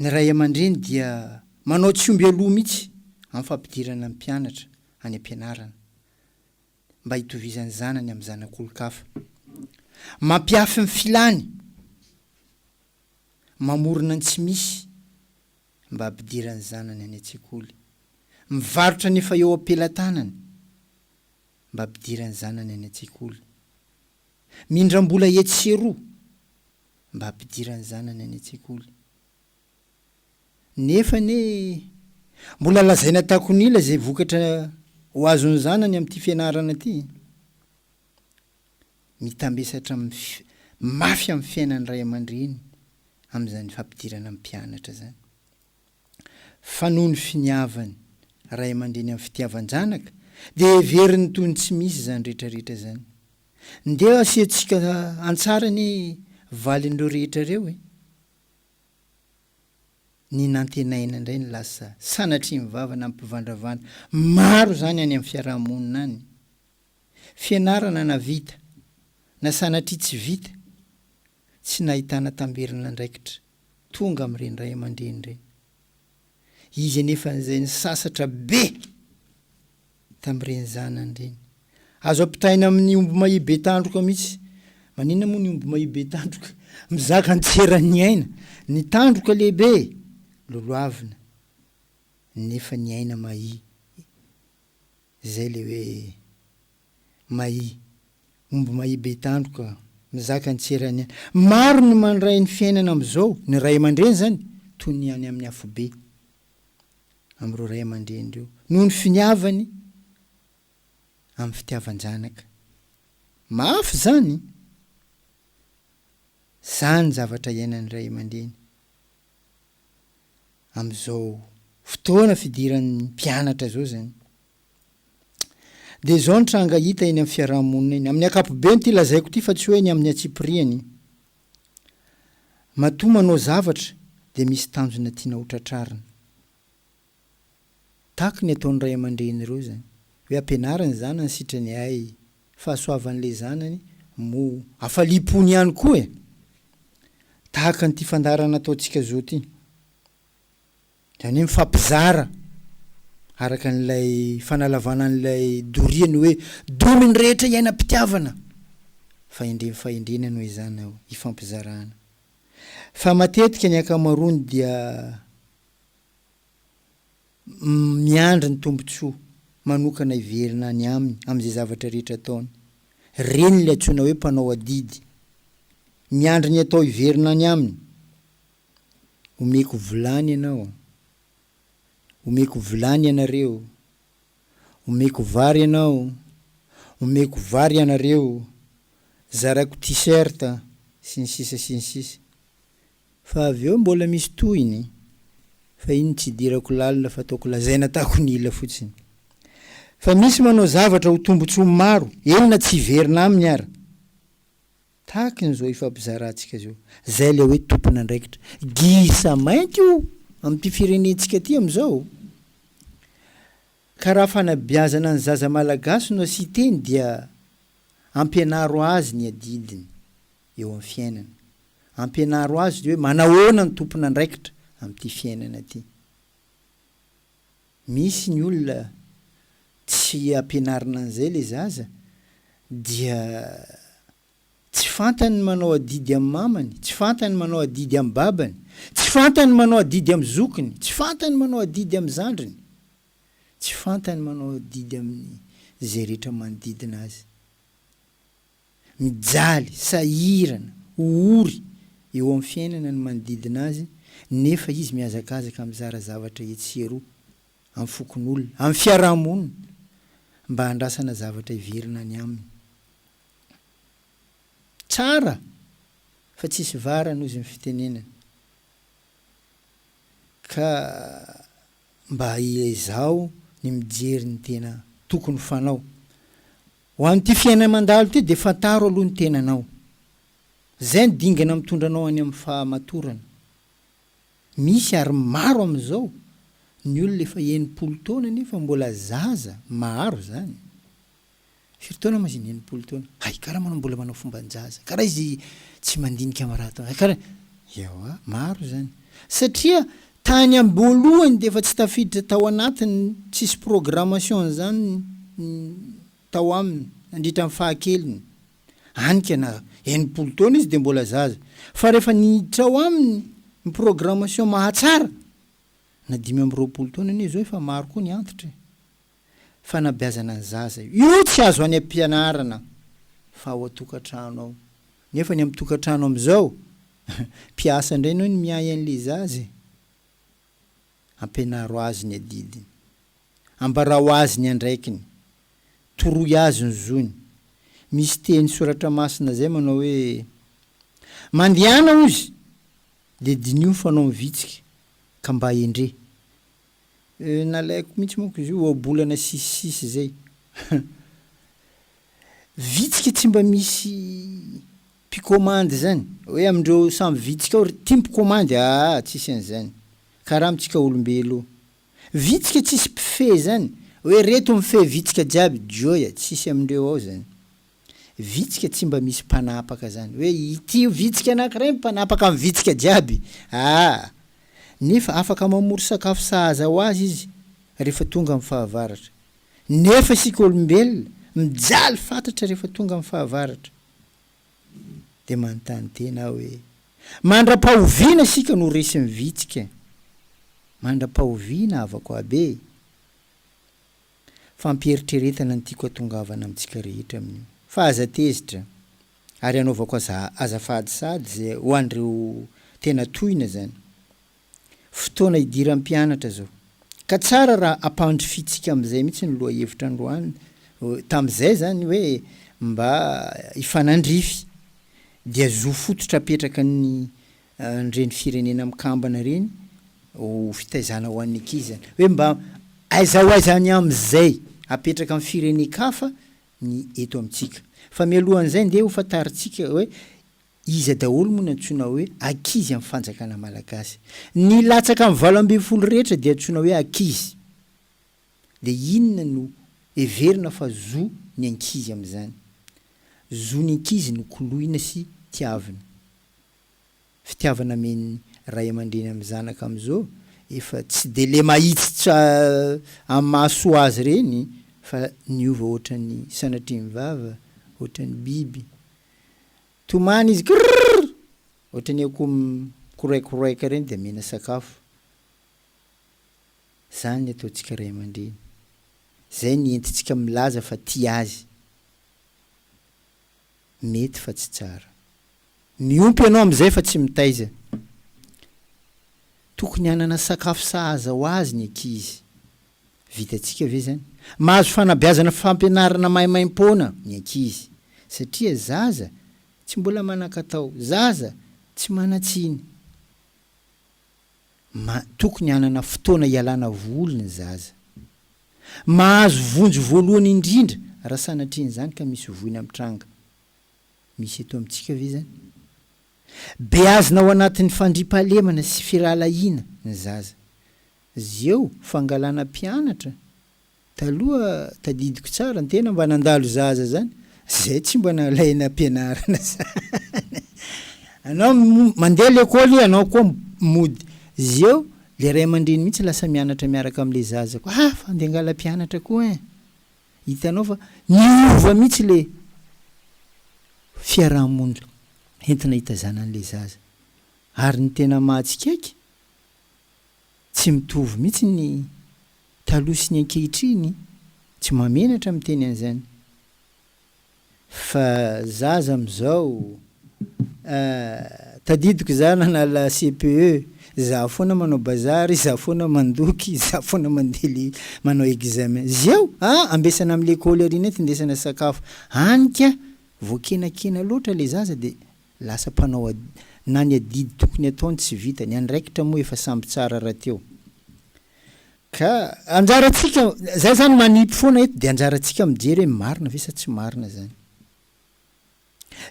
ny ray aman-dreny dia manao tsy omby aloha mihitsy amin'ny fampidirana ny mpianatra any am-pianarana mba hitovizan'ny zanany amin'ny zanak'olon-kafa. Mampihafy ny filany, mamorona ny tsy misy mba hampidiran'ny zanany any an-tsekoly. Mivarotra ny efa eo am-pelatanany mba hampidiran'ny zanany any an-tsekoly. mindram-bola etsy sy eroa mba hampidirany zanany any an-tsekoly. Nefa anie mbola lazaina takon'ila izay vokatra ho azon'ny zanany amin'ity fianarana ity. Mitambesatra mafy amin'ny fiainan'ny ray aman-dreny amin'izany fampidirana mpianatra izany. fa noho ny finiavany ray aman-dreny amin'ny fitiavan-janaka dia heveriny toy ny tsy misy izany rehetrarehetra izany. Ndeha hasiantsika an-tsary anie valin'ireo rehetra ireo e! Ny nantenaina indray no lasa sanatria mivava na mpivandravandra. Maro izany any amin'ny fiaraha-monina any. Fianarana na vita na sanatria tsy vita, tsy nahitana tamberin'andraikitra. tonga amin'ireny ray aman-dreny ireny. Izy anefa izay nisasatra be tamin'ireny zanany ireny. Azo ampitahaina amin'ny omby mahia be tandroka mihitsy. Maninona moa ny omby mahia be tandroka? Mizaka an-tseran'ny aina. Ny tandroka lehibe, lolohavina, nefa ny aina mahia. Izay le hoe Mahi. Omby Mahi be tandroka mizaka ny tserany any. Maro ny mandray ny fiainana amin'izao, ny ray aman-dreny izany, toy ny any amin'ny afobe amin'ireo ray aman-dreny ireo, noho ny finiavany amin'ny fitiavan-janaka. Mafy izany! Izany ny zavatra iainan'ny ray aman-dreny. amin'izao fotoana fidiran'ny mpianatra izao izany dia izao ny tranga hita eny amin'ny fiaraha-monina eny, amin'ny ankapobeny ity lazaiko ity fa tsy hoe ny amin'ny antsipiriany, matoa manao zavatra dia misy tanjona tiana hotratrarina, tahaka ny ataon'ny ray aman-dreny ireo izany, hoe ampianaro ny zanany sitrany ay, fahasoavan'ilay zanany moa. Hafaliam-pony ihany koa e! Tahaka an'ity fandaharana ataontsika zao ity. Izany hoe mifampizara araka an'ilay fanalavana an'ilay doria ny hoe domy ny rehetra iainam-pitiavana. Fahendrem fahendrena no ezahina hifampizarana. Fa matetika ny ankamaroany dia. miandry ny tombontsoa manokana hiverina any aminy amin'izay zavatra rehetra ataony. Ireny ilay antsoina hoe mpanao adidy. Miandry ny atao hiverina any aminy. Omeko vilany ianao. Omeko vilany ianareo. Omeko vary ianao. Omeko vary ianareo. Zaraiko t-shirt, sy ny sisa sy ny sisa. Fa avy eo mbola misy tohiny, fa iny tsy idirako lalina fa ataoko lazaina atako ny ila fotsiny. Fa misy manao zavatra ho tombotsoa maro, eny na tsy hiverina aminy ara. Tahakin'izao ifampizarantsika zao. Zay le hoe tompon'andraikitra. Gisa mainty io amin'ity firenentsika ity amizao. Ka raha fanabeazana ny zaza malagasy no asiteny dia ampianaro azy ny adidiny. eo amin'ny fiainany. Ampianaro azy hoe manahoana ny tompon'andraikitra amin'ity fiainana ity. Misy ny olona tsy ampianarina an'izay ilay zaza dia tsy fantany ny manao adidy amin'ny mamany, tsy fantany ny manao adidy amin'ny babany, tsy fantany ny manao adidy amin'ny zokiny, tsy fantany ny manao adidy amin'ny zandriny, tsy fantany ny manao adidy amin'izay rehetra manodidina azy. Mijaly, sahirana, ho ory eo amin'ny fiainana ny manodidina azy nefa izy mihazakazaka mizara zavatra etsy sy eroa amin'ny fokonolona, amin'ny fiaraha-monina mba handrasana zavatra hiverina any aminy. Tsara fa tsisy varany ozy ny fitenenany ka mba ezaho ny mijery ny tena tokony fanao Ho an'ity fiainana mandalo ity dia fantaro aloha ny tenanao. Izay no dingana mitondra anao any amin'ny fahamatorana. Misy ary maro amin'izao ny olona efa enimpolo taona nefa mbola zaza, maro izany. Firy taona moa izy ny enimpolo taona? Hay kara manao mbola manao fomban-jaza, kara izy tsy mandinika marato, hay kara. Ewa, maro izany. Satria Tany amboalohany dia efa tsy tafiditra tao anatiny, tsisy programmation an'izany tao aminy nandritra ny fahakeliny. Anika na enimpolo taona izy dia mbola zaza, fa rehefa niditra ao aminy ny programmation mahatsara, na dimy amby roapolo taona anie izao efa maro koa ny antitra e! fanabeazana ny zaza io. Io tsy azo any am-pianarana fa ao an-tokantrano ao. Nefa ny amin'ny tokantrano amin'izao, mpiasa indray ianao no miahy an'ilay zaza e! Ampianaro azy ny adidiny. Ambarao azy ny andraikiny. Toroy azy ny zony. Misy teny soratra masina izay manao hoe, Mandehana hozy, dia diniho ny fanaony vitsika, ka mba endre. Eh, nalaiko mihitsy manko izy io ohabolana sisisisy zay. Vitsika tsy mba misy mpikomandy zany, hoe amindreo samy vitsika ao ry ty mpikomandy aa tsisy an'zany, karaha amintsika olombelo io. Vitsika tsisy mpifehy zany, hoe reto mifehy vitsika jiaby, joy, tsisy amindreo ao zany. Vitsika tsy mba misy mpanapaka zany hoe ity io vitsika anakiray mpanapaka ny vitsika jiaby aa! nefa afaka mamory sakafo sahaza ho azy izy rehefa tonga amin'ny fahavaratra nefa isika olombelona mijaly fatratra rehefa tonga amin'ny fahavaratra dia manontany tena aho hoe mandra-pahoviana isika no resin'ny vitsika? mandra-pahoviana havako aby e! Fampieritreretana ny tiako hatongavana amintsika rehetra amin'io. Fa aza tezitra. Ary anaovako aza azafady sady ze ho an'ireo tena tohina zany. Fotoana idiran'ny mpianatra zao. Ka tsara raha ampandrifintsika amin'izay mihitsy ny lohahevitra androany tamin'izay zany hoe mba hifanandrify. Dia zo fototra apetraka ny an'ireny firenena mikambana ireny ho fitaizana ho an'ny ankizy izany hoe mba aiza ho aiza any amin'izay apetraka amin'ny firenen-kafa ny eto amintsika. Fa mialoha an'izay ndeha ho fantarintsika hoe iza daholo moa no antsoina hoe ankizy amin'ny fanjakana malagasy. Ny latsaka amin'ny valo ambin'ny folo rehetra dia antsoina hoe ankizy. Dia inona no heverina fa zo ny ankizy amin'izany? Zo ny ankizy nokoloina sy tiavina. fitiavana amin ray amandreny am zanaka am zo efa tsy de le mahitsitra am mahasoa azy reny fa niova otrany sanatrim vava otrany biby tomany izy krrrr otrany akoho mikoraikoroaika reny de amena sakafo zany ny ataontsika ray amandreny zay ny entitsika milaza fa tia azy. mety fa tsy tsara. Miompy ianao amin'izay fa tsy mitaiza. Tokony hanana sakafo sahaza ho azy ny ankizy. Vitantsika ve izany? Mahazo fanabeazana fampianarana maimaim-poana ny ankizy, satria zaza tsy mbola manan-katao, zaza tsy manan-tsiny. Tokony hanana fotoana hialana voly ny zaza. Mahazo vonjy voalohany indrindra raha sanatrian'izany ka misy voina mitranga. Misy eto amintsika ve izany? Beazina ao anatin'ny fandriampahalemana sy firahalahiana ny zaza. Zeo fangalana mpianatra Taloha tadidiko tsara ny tena mba nandalo zaza zany zay tsy mba nalay nampianarana zany anao mandeha lekôly ianao koa mody zeo le ray amandreny mihitsy lasa mianatra miaraka am le zaza koa ah fa andeha angala mpianatra koa ein hitanao fa niova mihitsy le fiarahamonina entina hitazananle zaza ary ny tena mahatsikaiky Tsy mitovy mihitsy ny taloha sy ny ankehitriny, tsy mahamenatra miteny an'izany fa zaza amin'izao ah, tadidiko za nanala CPE, za foana manao bazary, za foana mandoky, za foana mandeha le manao examen. Zeo ah, ambesana amin'ny lekôly ary nentindesana sakafo, any ka voakenakena loatra le zaza dia Lasa mpanao ad. Na ny adidy tokony ataony tsy vita. Ny andraikitra moa efa samby tsara rahateo. Ka anjarantsika, zay zany manipy foana eto dia anjarantsika mijery hoe marina ve sa tsy marina zany.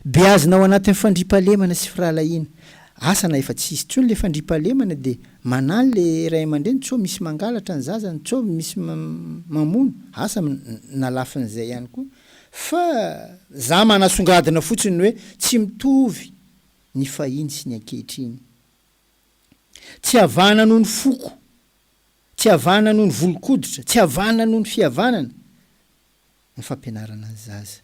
Beazina ao anatin'ny fandriampahalemana sy firahalahiana. Asa na efa tsy hisy intsony le fandriampahalemana dia manahy le ray aman-dreny sao misy mangalatra ny zazany, sao misy mamono. Asa na lafin'izay ihany koa Fa za manasongadina fotsiny hoe tsy mitovy ny fahiny sy ny ankehitriny. Tsy havana noho ny foko, tsy havana noho ny volon-koditra, tsy havana noho ny fihavanana ny fampianarana ny zaza.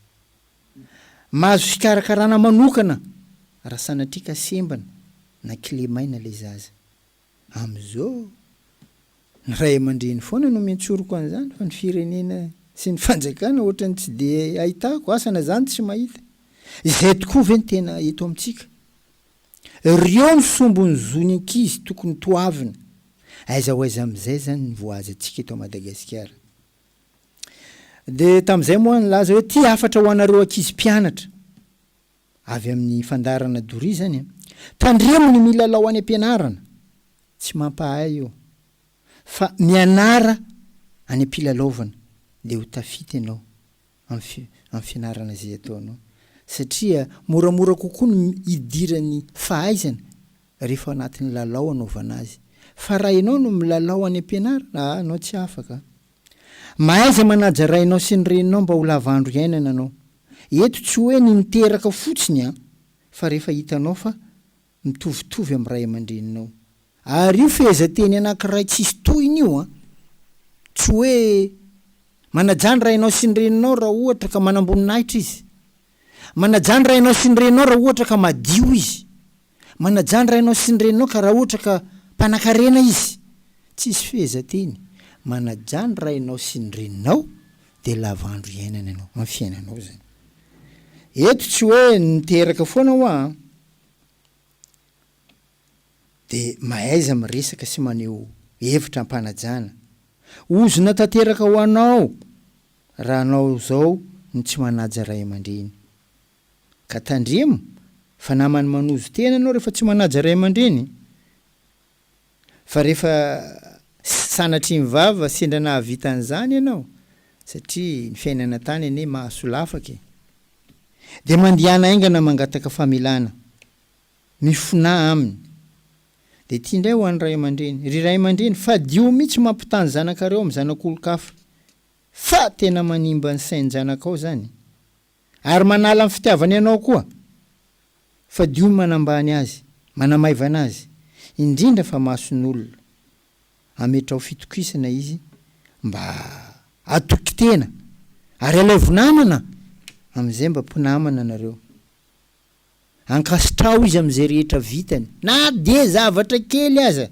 Mahazo fikarakarana manokana raha sanatria ka sembana na kilemaina ilay zaza. Amin'izao, ny ray aman-dreny foana no miantsoroko an'izany fa ny firenena sy ny fanjakana ohatran'ny tsy dia ahitako asa na zany tsy mahita. Izay tokoa ve ny tena eto amintsika? Ireo no sombin'ny zon'ny ankizy tokony toavina. Aiza ho aiza amin'izay izany ny voahazantsika eto Madagasikara? Dia tamin'izay moa aho nilaza hoe ity hafatra ho anareo ankizy mpianatra. Avy amin'ny fandaharana doria izany an. Tandremo ny milalao any am-pianarana, tsy mampahay io fa mianara any am-pilalaovana dia ho tafita ianao amin'ny amin'ny fianarana izay ataonao satria moramora kokoa ny hidiran'ny fahaizana rehefa ao anatin'ny lalao anaovana azy fa raha ianao no milalao any am-pianarana aa ianao tsy afaka mahaiza manaja rainao sy ny reninao mba ho lava andro iainana ianao. Eto tsy hoe ny niteraka fotsiny an, fa rehefa hitanao fa mitovitovy amin'ny ray aman-dreninao. Ary io fehezanteny anankiray tsisy tohiny io an, tsy hoe manajà ny rainao sy ny reninao raha ohatra ka manamboninahitra izy, manajà ny rainao sy ny reninao raha ohatra ka madio izy, Manajà ny rainao sy ny reninao ka raha ohatra ka mpanakarena izy, tsisy fehezanteny, manajà ny rainao sy ny reninao dia lava andro iainana ianao amin'ny fiainanao izany. Eto tsy hoe niteraka foana hoa an, dia mahaiza miresaka sy maneho hevitra am-panajana. Ozona tanteraka ho anao raha anao izao no tsy manaja ray aman-dreny. Ka tandremo fa namany manozo tena ianao rehefa tsy manaja ray aman-dreny fa rehefa sanatria mivava sendra nahavita an'izany ianao satria ny fiainana tany anie mahasolafaka e! dia mandehana haingana mangataka famelana, mifonà aminy. Dia ity indray ho an'ny ray aman-dreny, ry ray aman-dreny fadio mihitsy mampitaha ny zanakareo amin'ny zanak'olon-kafa fa tena manimba ny sain-janakao izany. Ary manala ny fitiavany anao koa. Fadio ny manambany azy, manamaivana azy, indrindra fa mason'olona. Ametraho fitokisana izy mba hatoky tena, ary alaivo namana, amin'izay mba mpinamana nareo. Ankasitraho izy amin'izay rehetra vitany, na dia zavatra kely aza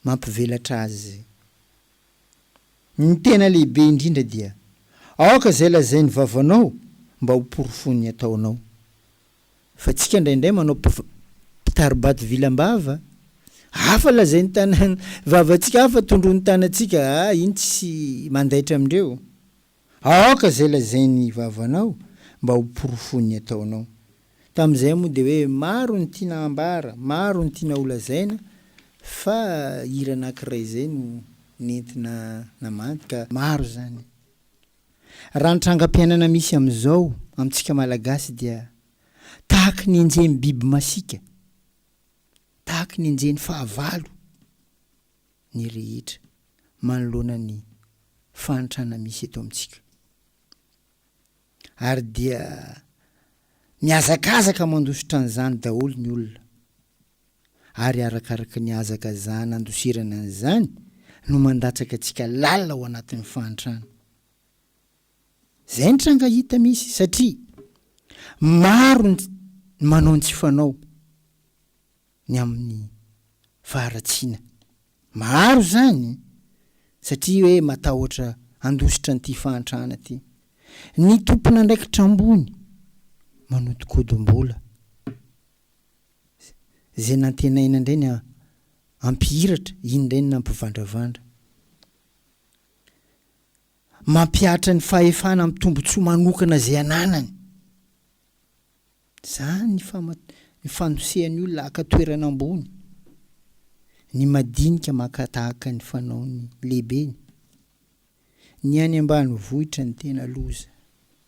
mampivelatra azy. Ny tena lehibe indrindra dia, aoka izay lazain'ny vavanao mba ho porofon'ny ataonao. Fa tsika indraindray manao mpiv, mpitari-bato vilam-bava, hafa lazain'ny tanan, vavantsika hafa tondroin'ny tanantsika, ah iny tsy mandaitra amindreo. Aoka izay lazain'ny vavanao mba ho porofon'ny ataonao. Tamin'izay moa dia hoe maro ny tiana hambara, maro ny tiana holazaina fa hira anankiray izay no nentina namandy ka maro izany. Raha ny trangam-piainana misy amin'izao amintsika Malagasy dia tahaka ny enjehin'ny biby masiaka, tahaka ny enjehin'ny fahavalo. ny rehetra manoloana ny fahantrana misy eto amintsika ary dia mihazakazaka mandositra an'izany daholo ny olona ary arakaraka ny hazakazahana andosirana an'izany no mandatsaka antsika lalina ao anatin'ny fahantrana. Izay ny tranga hita misy satria maro ny manao ny tsy fanao. ny amin'ny faharatsiana. Maro izany satria hoe matahotra handositra an'ity fahantrana ity. Ny tompon'andraikitra ambony manodinkodimbola. Izay nantenaina indray ny hampihiratra, iny indray no nampivandravandra. Mampihatra ny fahefana amin'ny tombontsoa manokana izay ananany. Izany ny fanosehan'ny olona haka toerana ambony ny madinika maka tahaka ny fanaon'ny lehibeny. Ny any ambanivohitra no tena loza.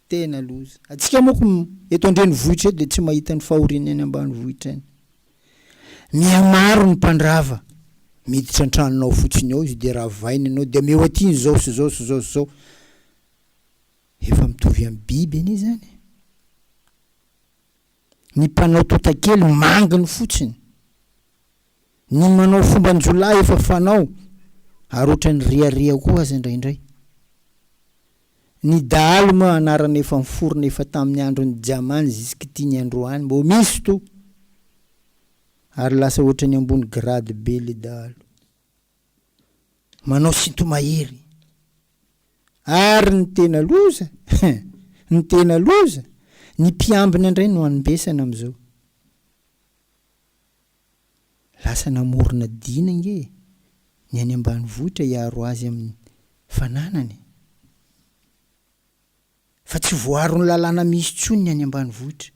Tena loza. Antsika manko eto an-drenivohitra eto dia tsy mahita ny fahorian'ny any ambanivohitra any. Mihamaro ny mpandrava. Miditra an-tranonao fotsiny ao izy dia ravaina ianao dia ameo aty ny izao sy izao sy izao sy izao. Efa mitovy amin'ny biby anie izany. Ny mpanao totakely manginy fotsiny. Ny manao fomban-jiolahy efa fanao ary ohatran'ny riaria koa aza indraindray. Ny dahalo moa anarana efa niforona efa tamin'ny andron'i Jamany zisk'ity ny androany mbo misy toa ary lasa ohatran'ny ambony grade be le dahalo. manao sinto-mahery ary ny tena loza ny tena loza ny mpiambina indray no anmbesana amin'izao lasa namorona dina ange ny any ambanivohitra hiaro azy amin'ny fananany fa tsy voaron'ny lalàna misy intsony ny any ambanivohitra.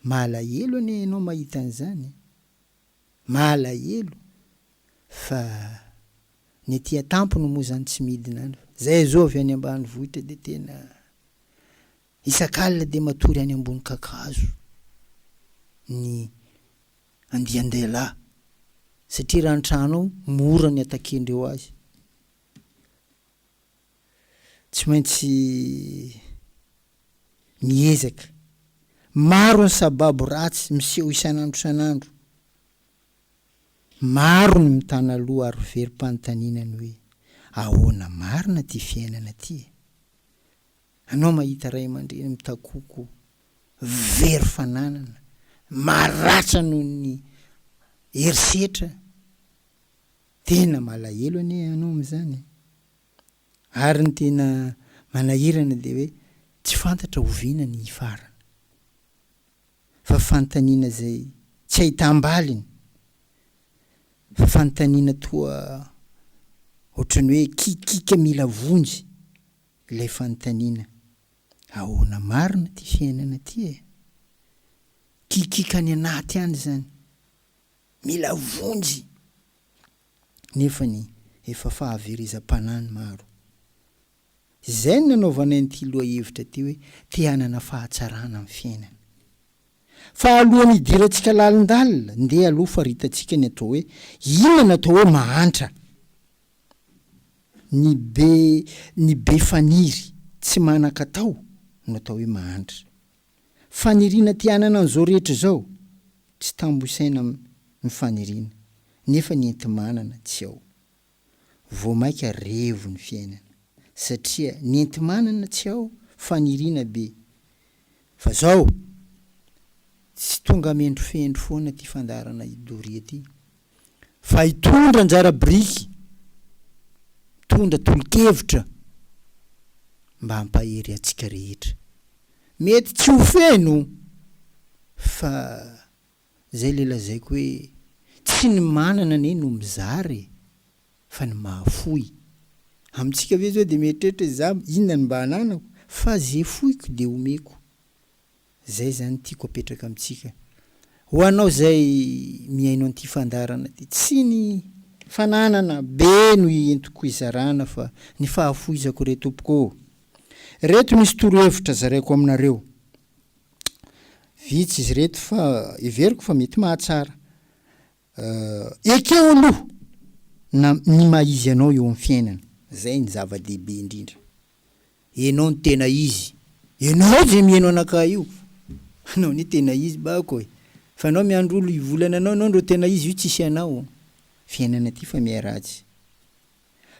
Mahalahelo anie ianao mahita an'izany e! Mahalahelo fa ny aty an-tampony moa izany tsy midina any fa izay zao avy any ambanivohitra dia tena isak'alina dia matory any ambony kakazo ny andian-dehilahy satria raha ny trano ao mora ny atakendreo azy. tsy maintsy miezaka. Maro ny sababo ratsy miseho isan'andro isan'andro. Maro ny mitana loha ary verom-panontaniana ny hoe, ahoana marina ity fiainana ity e? Anao mahita ray aman-dreny mitakoko very fananana, maratra noho ny herisetra, Tena malahelo anie ianao amin'izany e! Ary ny tena manahirana dia hoe tsy fantatra oviana ny hifarana. Fa fanontaniana izay tsy ahitam-baliny, fa fanontaniana toa ohatran'ny hoe kikika mila vonjy ilay fanontaniana, ahoana marina ity fiainana ity e? Kikika any anaty any izany, Mila vonjy nefany efa fahaverezam-panahy ny maro. Izay no nanaovanay an'ity lohahevitra ity hoe te hanana fahatsarana amin'ny fiainana. Fa alohan'ny hidirantsika lalindalina, ndeha aloha faritantsika ny atao hoe inona no atao hoe mahantra. Ny be ny be faniry, tsy manan-katao no atao hoe mahantra. Faniriana te hanana an'izao rehetra izao, tsy tambo isaina ny faniriana, nefa ny enti-manana tsy ao. Vao maika revo ny fiainana, satria ny enti-manana tsy ao, faniriana be. Fa zao! Tsy tonga mendrofendro foana ty fandaharana i Doria ty. fa hitondra anjara biriky, mitondra tolo-kevitra mba hampahery antsika rehetra. Mety tsy ho feno fa zay le lazaiko hoe tsy ny manana anie no mizara e, fa ny mahafoy. Amintsika ve zao de mieritreritra hoe za inona no mba ananako fa ze foiko de omeko. Izay izany tiako apetraka amintsika. Ho anao izay mihaino an'ity fandaharana ity, tsy ny fananana be no ientiko hizarana fa ny fahafoizako re Tompoko ô! Ireto misy torohevitra zaraiko aminareo. Vitsy izy ireto fa heveriko fa mety mahatsara. Eh, ekeo aloha na ny maha izy anao eo amin'ny fiainana, izay no zava-dehibe indrindra. Ianao no tena izy, ianao izay mihaino anakahy io, anao anie tena izy bako e! Fa anao miandry olo hivolana anao, ianao ndro tena izy io tsisy anao. Fiainana ity fa miharatsy.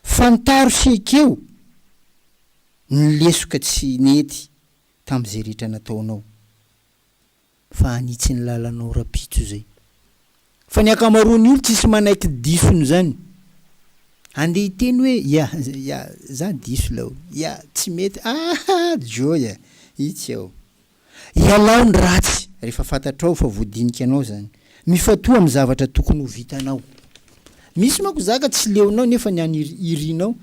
Fantaro sy ekeo ny lesoka tsy nety tamin'izay rehetra nataonao. fa hanitsy ny lalanao rapitso izay. Fa ny ankamaroan'ny olo tsisy manaiky diso ny zany. Andeha hiteny hoe ya ya za diso lao ya tsy mety aa joy a itsy ao. Ialao ny ratsy refa fantatrao fa voadinika anao zany. Mifatoha am zavatra tokony ho vitanao. Misy manko zaka tsy leonao nefa ny an irinao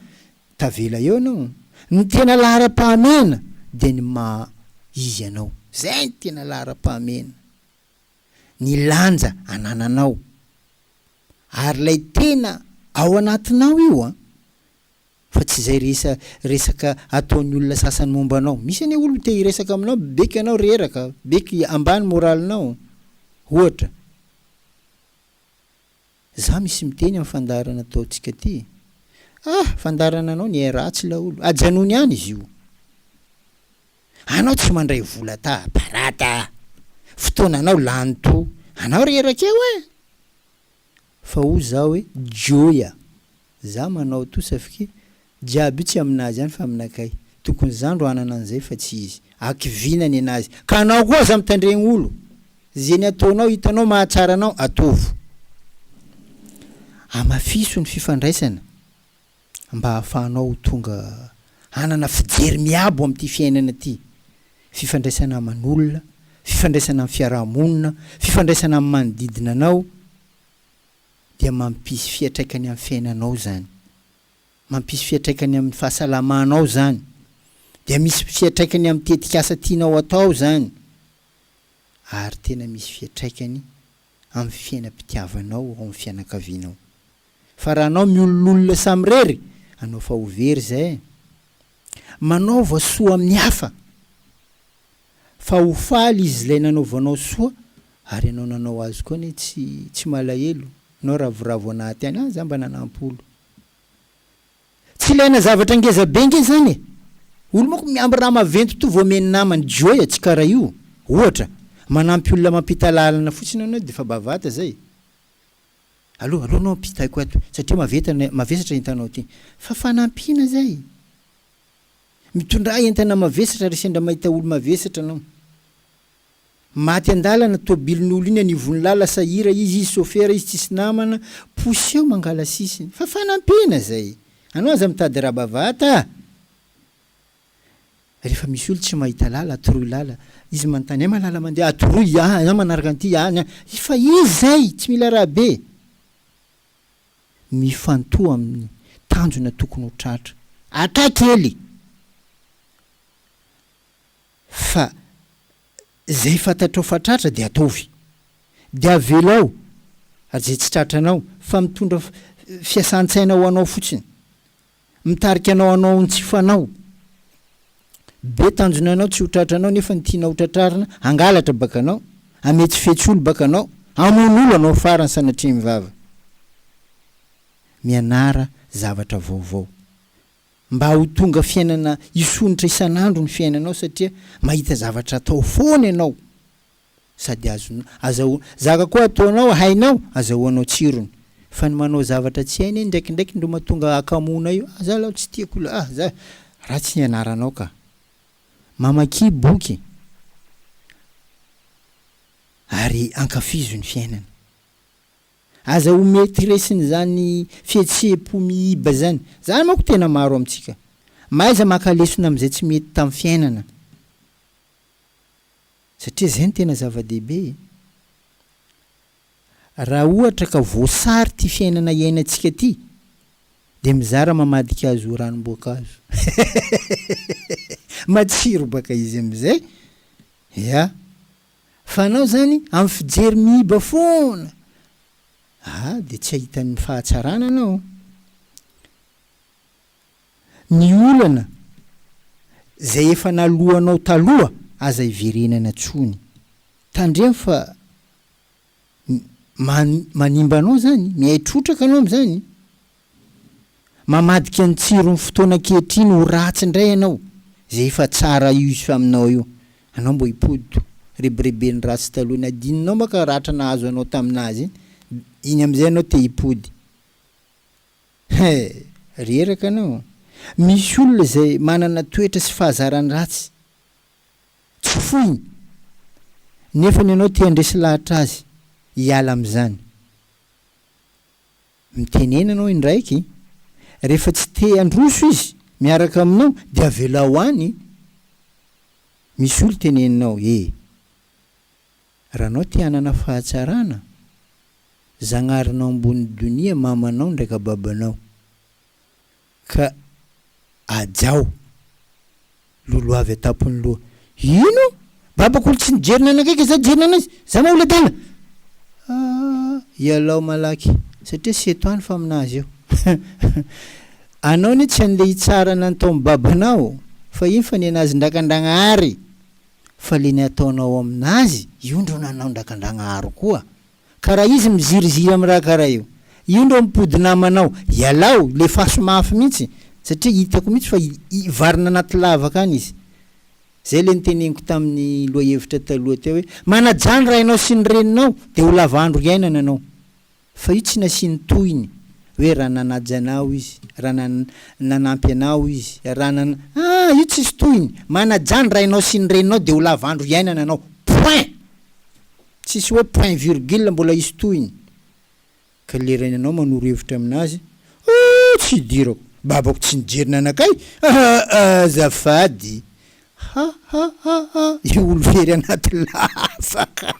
Tavela eo ianao. Ny tena laharam-pahamehana dia ny maha izy anao. Izay ny tena laharam-pahamehana. Ny lanja anananao. Ary ilay tena ao anatinao io an! Fa tsy izay resa resaka ataon'ny olona sasany momba anao. Misy anie olo te hiresaka aminao beko ianao reraka, beko ambany moralinao. Ohatra. Za misy miteny am fandaharana ataontsika ty e! Ah! Fandaharana anao nihay ratsy laolo! Ajanony any izy io! Anao tsy mandray vola ta barada a! Fotoananao lany to anao reraka eo e! Fa hoy za hoe joy a! Za manao to safike Jiaby io tsy aminazy ihany fa aminakay. Tokony za ndro hanana an'izay fa tsy izy. Hakiviana nenazy. Ka anao koa aza mitandregny olo. Ze ny ataonao hitanao mahatsara anao ataovo. Amafiso ny fifandraisana mba ahafahanao ho tonga hanana fijery miabo amin'ity fiainana ity. Fifandraisana aman'olona, fifandraisana amin'ny fiaraha-monina, fifandraisana amin'ny manodidina anao dia mampisy fiatraikany amin'ny fiainanao izany. Mampisy fiatraikany amin'ny fahasalamanao izany, dia misy fiatraikany amin'ny tetikasa tianao atao izany, ary tena misy fiatraikany amin'ny fiainam-pitiavanao ao amin'ny fianakavianao. Fa raha anao miololona samirery, anao fa ho very izay e! Manaova soa amin'ny hafa, fa ho faly izy ilay nanaovanao soa, ary ianao nanao azy koa anie tsy tsy malahelo, nao ravoravo anaty any, ah za mba nanampo olo, Tsy ilaina zavatra ngeza be nge zany e! Olo manko miamby raha maventy toa voamen'ny namany Joy a! Tsy karaha io! Ohatra, manampy olona mampita lalana fotsiny anao de fa bavata zay! Allo, allo anao ampitaiko ato satria maveta, mavesatra entanao ty! Fa fanampiana zay! Mitondrà entana mavesatra re sendra mahita olo mavesatra anao! Maty andalana tobilin'olo iny anivon'ny lala sahira izy izy sofera izy tsisy namana poseho mangala sisiny fa fanampiana zay anao aza mitady rà bavata a refa misy olo tsy mahita lala atoroy lala izy manontany aima lala mandeha atoroy a za manaraka an'ty any a fa izy zay tsy mila rà be mifantoha amin'ny tanjona tokony ho tratra atra kely. Fa izay fantatrao fa tratra dia ataovy. Dia avelao izay tsy tratra anao fa mitondra fiasan-tsaina ho anao fotsiny. Mitarika anao hanao ny tsy fanao. Be tanjona anao tsy ho tratra anao nefa ny tiana ho tratrarina hangalatra baka anao, hametsifetsy olo baka anao, hamono olo anao farany sanatria mivava. Mianara zavatra vaovao. mba ho tonga fiainana hisonitra isan'andro ny fiainanao satria mahita zavatra atao foana ianao sady azonao azahoana zaka koa ataonao hainao azahoanao tsirony fa ny manao zavatra tsy hainy indraikindraiky ndro matonga hakamoana io ah za lao tsy tiako io ah za ratsy ny anaranao ka mamakia boky ary ankafizo ny fiainana. Aza ho maîtresse-ny izany fihetseham-po miiba izany. Izany manko tena maro amintsika. Mahaiza maka lesona amin'izay tsy mety tamin'ny fiainana. Satria izay no tena zava-dehibe e. Raha ohatra ka voasary ity fiainana iainantsika ity dia mizara mamadika azy ho ranom-boankazo. Matsiro baka izy amin'izay. Ya. Fa anao zany amin'ny fijery miiba foana ah dia tsy ahitan'ny fahatsarana anao. Ny olana zay efa naloanao taloha aza iverenana tsony. Tandremo fa manimba anao zany, mihay trotraka anao amin'izany. Mamadika ny tsiron'ny fotoana ankehitriny ho ratsy indray ianao, izay efa tsara used aminao io. Anao mbo hipodo, rebireben'ny ratsy taloha iny, adinonao manka ratra nahazo anao tamin'azy iny, iny amin'izay ianao te hipody. He! reraka anao. Misy olona izay manana toetra sy fahazarany ratsy, tsy foiny, nefany ianao te handresy lahatra azy hiala amin'izany. Mitenena anao indraiky, rehefa tsy te handroso izy miaraka aminao dia avelao any, misy olo teneninao e! Raha anao te hanana fahatsarana, Zagnarinao ambony donia mamanao ndraika babanao. Ka hajao. Lolo avy an-tampon'ny loha. Ino? Babako olo tsy nijery nanakaiky za jery nanazy. Za moa olo adala. Aah, ialao malaky, satria tsy eto any fa aminazy eo. Anao anie tsy an'ilay hitsara anan'ny taom-babanao fa iny fa ny anazy ndrakan-dragnahary. Fa le ny ataonao aminazy, io ndreo nanao ndrakan-dragnahary koa. Ka raha izy miziriziry am raha karaha io. Io ndreo mipody namanao. Ialao, lefaso mafy mihitsy. Satria hitako mihitsy fa hivarina anaty lavaka any izy. Zay le niteneniko taminy lohahevitra taloha teo hoe, manajà ny rainao sy ny reninao de ho lava andro iainana anao. Fa io tsy nasiany tohiny hoe raha nanaja anao izy, raha nanampy anao izy, raha nana. Ah! Io tsisy tohiny. Manajà ny rainao sy ny reninao de ho lava andro iainana anao. Point! Tsisy hoe point virgule mbola hisy tohiny ka le rainanao manoro hevitra aminazy ooh tsy hidirako babako tsy nijery nanakay aa azafady ha ha ha ha io olo very anaty lafaka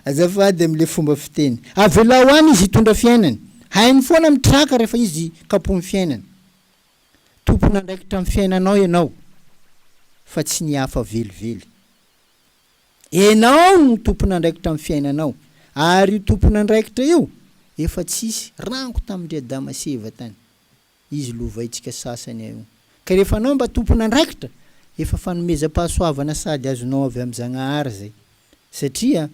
azafady amle fomba fiteny avelao any izy hitondra fiainany hainy foana mitraka refa izy kapohiny fiainany tompon andraikitra am fiainanao ianao fa tsy ny hafa velively Enao no tompon'andraikitra amin'ny fiainanao, ary io tompon'andraikitra io efa tsisy, rango tamin-dry Adama sy Eva tany izy lovaintsika sasany eo, ka rehefa anao mba tompon'andraikitra, efa fanomezam-pahasoavana sady azonao avy amin'i Zagnahary izay, satria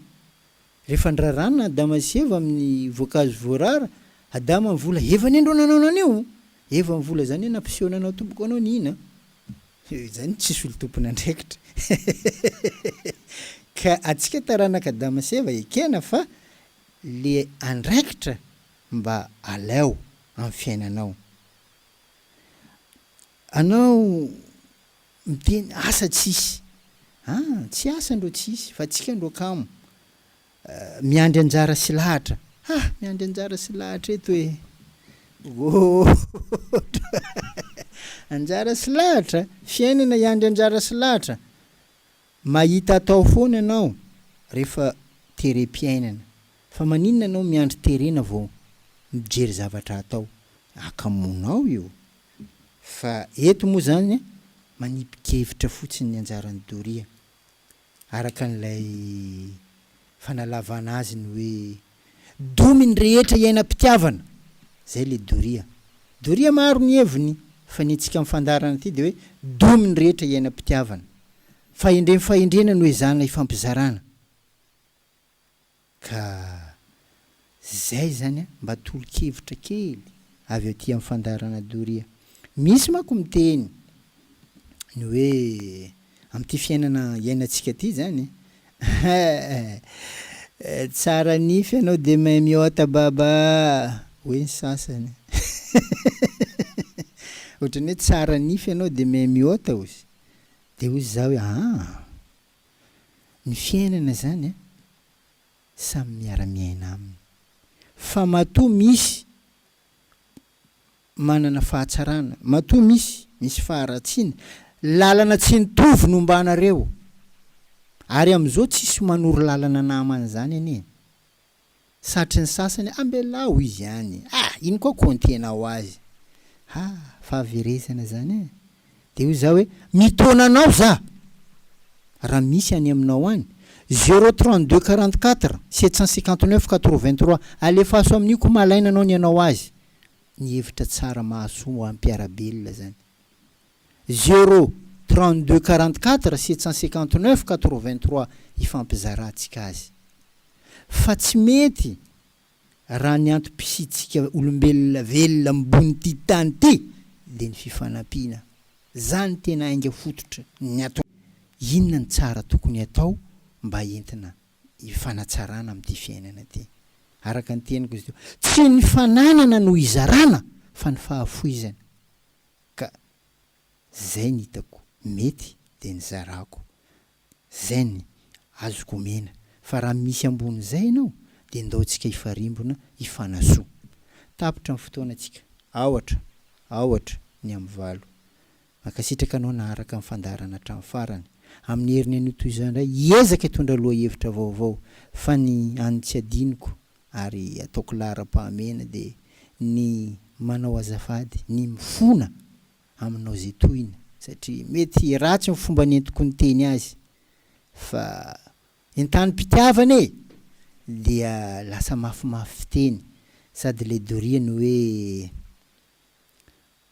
Rehefa niraràna Adama sy Eva amin'ny voankazo voarara, Adama ny vola, Eva anie ndrô nanao nanio! Eva ny vola, zany hoe nampiseho nanao tompoko anao ny hina an! Zany tsisy olo tompon'andraikitra eh! Ka atsika taranaka Adama sy Eva ekena fa le andraikitra mba aleo amin'ny fiainanao anao Miteny asa tsisy ah tsy asa ndro tsisy fa tsika ndro kamo miandry anjara sy lahatra ah miandry anjara sy lahatra eto eh ohh anjara sy lahatra fiainana hiandry anjara sy lahatra mahita atao foana ianao rehefa terem-piainana fa maninona ianao miandry terena vao mijery zavatra atao akamonao io Fa eto moa izany manipin-kevitra fotsiny ny anjaran'i Doria, araka an'ilay fanalavana azy ny hoe domy ny rehetra iainam-pitiavana, izay ilay Doria. Doria maro ny heviny, fa ny antsika mifandarana ity dia hoe domy ny rehetra iainam-pitiavana. Fahendrem-fahendrena no ezahana hifampizarana. Ka izay izany an! Mba tolo-kevitra kely avy aty amin'ny fandaharana doria. Misy manko miteny ny hoe amin'ity fiainana iainantsika ity izany an! Tsara nify ianao dia mahay mihoata baba hoy ny sasany ohatran'ny hoe tsara nify ianao dia mahay mihoata ozy dia hoy izaho hoe aa! Ny fiainana zany a, samy miara miaina aminy fa matoa misy manana fahatsarana, matoa misy misy faharatsiana, lalana tsy nitovy no ombanareo, ary amizao tsisy manoro lalana namany zany anie. satry ny sasany ambelaho izy any ah iny koa kontiena ho azy ha fahaverezana zany eh de hoy za hoe mitaona anao za raha misy any aminao any zero trente deux quarante quatre sept cent cinquante neuf quatre vingt trois alefaso amin'io ko malaina anao ny anao azy ny hevitra tsara mahasoa ho an'ny mpiara-belona zany. Zéro, trente deux, quarante quatre, sept cent cinquante neuf, quatre vingt trois hifampizarantsika azy. Fa tsy mety raha ny antom-pisiantsika olombelona velona ambonin'ity tany ity dia ny fifanampiana. Izany tena ainga fototra ny antony. Inona ny tsara tokony atao mba entina hifanatsarana amin'ity fiainana ity? Araka ny teniko izy teo, tsy ny fananana no hizarana fa ny fahafoizana. Ka zay ny hitako mety de ny zarako, zay ny azoko omena fa raha misy ambony zay ianao de ndao tsika hifarimbona hifanasoa. Tapitra ny fotoana tsika, aohatra, aohatra ny amin'ny valo. Mankasitraka anao naharaka ny fandaharana hatramin'ny farany. Amin'ny heriny anio toy izao indray hiezaka hitondra lohahevitra vaovao fa ny an'ny tsy adinoko ary ataoko laharam-pahamehana dia ny manao azafady, ny mifona aminao izay tohina satria mety ratsy ny fomba nentiko niteny azy fa entanim-pitiavana e! dia lasa mafimafy fiteny sady ilay doriany hoe